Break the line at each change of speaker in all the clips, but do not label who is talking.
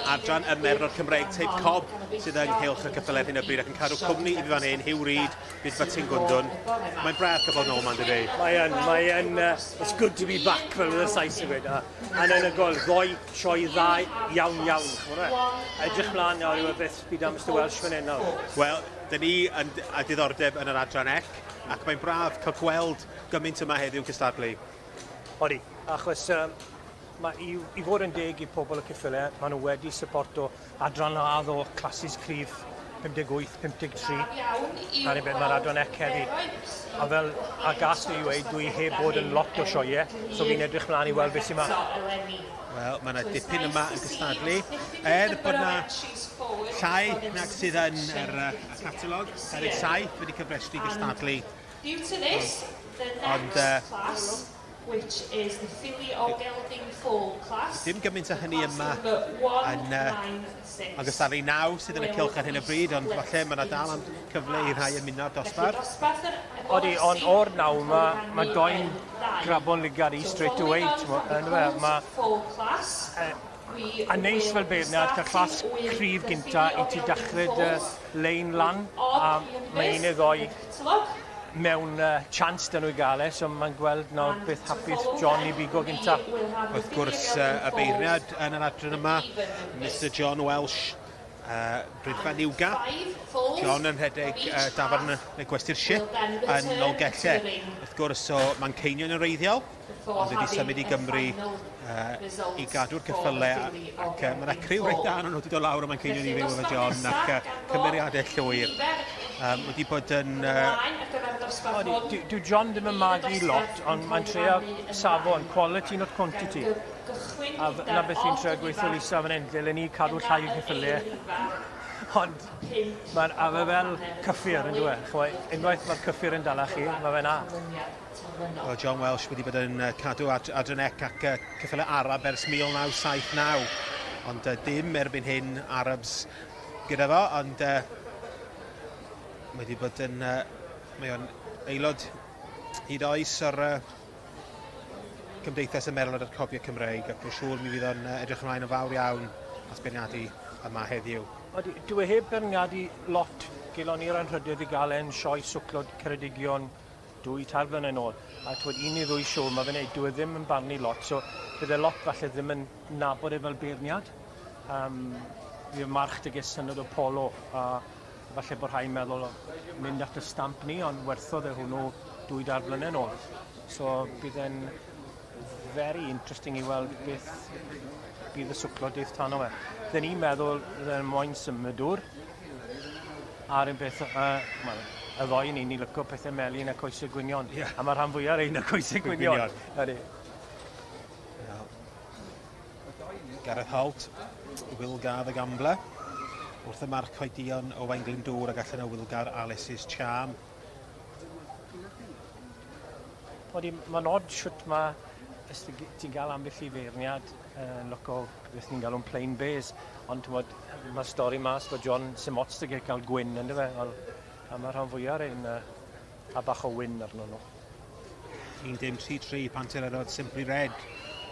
adran y merlod Cymreig Teip Cob sydd yng Nghylch y Cyffel ar hyn o bryd ac yn cadw cwmni i fi fan hyn, Hugh Reid, bydd Batin Gwndwn. Mae'n braf cael bod nôl ma'n dydi? Mae'n, mae'n,
uh, it's good to be back fel ydyn Sais i wedi. A'n yn y gol, ddoi sioe dda iawn iawn. Edrych mlaen nawr yw y beth bydd am Mr Welsh fan hyn nawr. Wel, dyn ni
yn, a diddordeb yn yr adran ec, ac mae'n braf cael gweld gymaint yma heddiw'n cystadlu? Odi,
achos um, mae i, i fod yn deg i pobl y cyffyle, maen nhw wedi syporto adran ladd o clasys cryf 58, 53, a rhywbeth mae'r adran ec heddi. A fel a gas i wei, dwi heb bod yn lot o sioie, so fi'n edrych mlaen i weld beth sy'n ma. Wel, mae yna
dipyn yma yn gystadlu. Er bod yna llai nag sydd yn yr uh, catalog, Eric Saith wedi cyfrestru gystadlu Due to
this, the next class, which is the
Filly or Gelding Foal class, the class number 196, Agos ar ei naw sydd yn y cylch ar hyn o bryd, ond falle mae yna dal am cyfle i rhai ymuno â'r dosbarth. Odi,
ond o'r naw yma, mae doi'n grabon ligar i straight away, ti'n gwybod, yn dweud, mae... A neis fel beirniad cael clas cryf gynta i ti dachre dy lein lan a mae un neu ddoi mewn uh, chance dyn nhw i gael e, so mae'n gweld nawr beth hapus John i bigo gynta. Wrth gwrs,
uh, y beirniad yn yr adran yma, Mr John Welsh, uh, Brydfan Iwga, John yn rhedeg uh, dafarn y gwesty'r ship yn Nolgellau. Wrth gwrs, o Manceinion yn reiddiol. ond wedi symud i Gymru uh, i gadw'r cyffyle ac uh, mae'n acriw reit dan nhw wedi dod lawr a mae'n ceinion i fyw efo John ac uh, cymeriadau llwyr um, wedi bod yn uh,
dyw John ddim yn magu lot ond mae'n trio safon quality not quantity a na beth i'n trio gweithio Lisa fan hyn lle le ni cadw llai o cyffyle ond mae'n afe fel cyffur yn dweud unwaith mae'r cyffur yn dala chi mae fe na terfynol. Oedd
John Welsh wedi bod yn cadw ad Adrian Eck ac uh, cyffyle Arab ers 1979. Ond uh, dim erbyn hyn Arabs gyda fo, ond uh, wedi bod yn... Uh, mae o'n aelod hyd oes o'r uh, Cymdeithas y Merlod a'r Cofio Cymreig ac mae'n siŵr mi fydd o'n uh, edrych ymlaen yn fawr iawn at beirniadu yma heddiw. Odi, dwi e heb
beirniadu lot gelon i'r anrhydedd i gael e'n sioe swclod Ceredigion dwy, tair blynedd yn ôl, a twyd un neu ddwy siw, mae fe'n neud, dwi e ddim yn barnu lot, so bydd e lot falle ddim yn nabod e fel beirniad. Um, fi o march dy ges syniad o polo, a falle bod rhai'n meddwl o mynd at y stamp ni, ond werthodd e hwnnw dwy dair blynedd yn ôl. So bydd e'n very interesting i weld beth bydd y swclo dydd tan o fe. Dyn ni'n meddwl dda ni'n moyn symud dŵr, a'r un beth, uh, well, y ddoi ni, ni lyco pethau melin a coesau gwynion. Yeah. A mae rhan fwyaf ein y coesau gwynion. Ydy.
Gareth Holt, Will Gar y Gambler, wrth y marc oedion Owain Glyndŵr ac allan o Will Gar Alice's Charm.
Odi, mae'n od shwt ma' os ti g- ti'n ga'l ambell i feirniad yn local beth ni'n galw'n plain bears ond t'mod yy ma'r stori mas bod John sim ots 'da fe ca'l gwin on'd yfe wel a ma' rhan fwya o rein yy a bach o win arnyn nw. 1 dim
tri tri Pantyr Erod Simply Red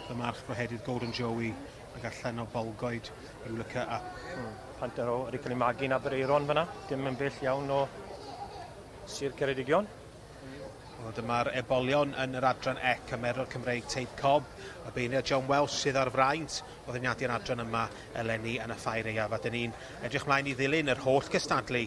fy march fo heddiw'r Golden Joey. Ac allan o Bolgoed, ryw lyca a... Hmm. Panter o wedi
cael ei magu yn Aberaeron fyna, dim yn bell iawn o Sir Ceredigion. Wel,
dyma'r ebolion yn yr adran e cymerwr Cymreig Teip Cob, y beirniad John Welsh sydd ar fraint o ddefnyddio'r adran yma eleni yn y ffair eiaf, a dyn ni'n edrych mlaen i ddilyn yr holl gystadlu.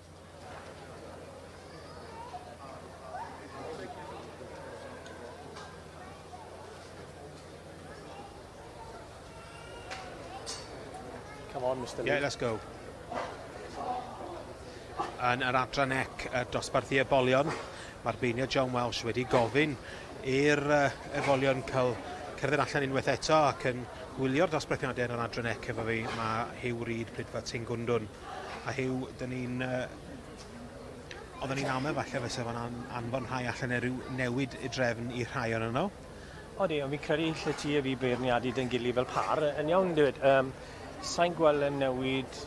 Come on, Mr. Yeah, let's go.
Yn yr adran ec, y dosbarthu ebolion, mae'r beinio John Welsh wedi gofyn i'r uh, ebolion cael cerdded allan unwaith eto ac yn gwylio'r dosbarthiadau yn yr adran ec efo fi. Mae Hugh Reid, Prydfa Tyngwndwn. A Huw, dyn ni'n... Yy, oedden ni'n amau falle fysa fo'n an- anfon rhai allan neu ryw newid i drefn i rhai o'n nhw? Odi, ond fi'n
credu lle ti a fi beirniadu dyn gili fel pâr yn iawn dweud. Um, Sa'n gweld yn newid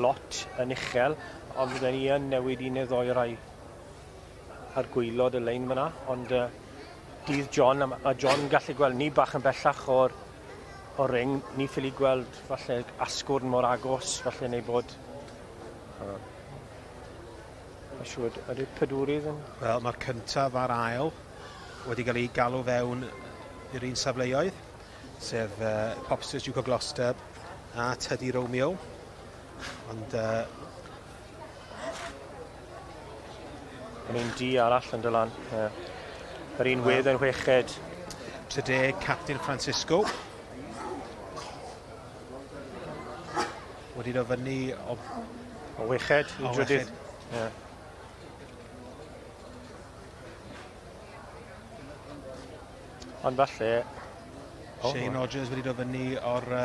lot yn uchel, ond fydden ni yn newid un neu ddoi rai ar gwylod y lein fyna, ond uh, dydd John, a, a John gallu gweld ni bach yn bellach o'r o ring, ni ffili gweld falle asgwrn mor agos, falle neu bod... Uh, Mae'n siŵr, ydy'r pedwrydd yn... Wel, mae'r cyntaf
a'r ail wedi cael ei galw fewn i'r un safleoedd, sef uh, Popsters Duke of Gloucester a Teddy Romeo. Ond uh,
Yn un di arall yn dylan. Yr un wedd yn weched. 30
captain Francisco. Wedi dod fyny o... O weched
i drydydd. Yeah. Ond falle... Shane
Rogers wedi dod fyny o'r uh,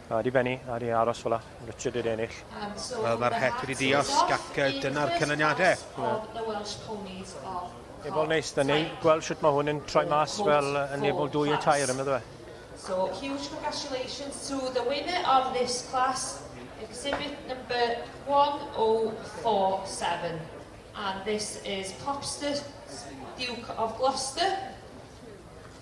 A di Benny, a di
aros fel la. Richard wedi ennill. Wel, mae'r het
wedi diosg ac dyna'r canlyniadau.
Ebol neis, da ni gweld sut mae hwn yn troi mas fel yn ebol dwy y tair, ymwneud fe. So, huge
congratulations to the winner of this class, exhibit number 1047. And this is Popster, Duke of Gloucester.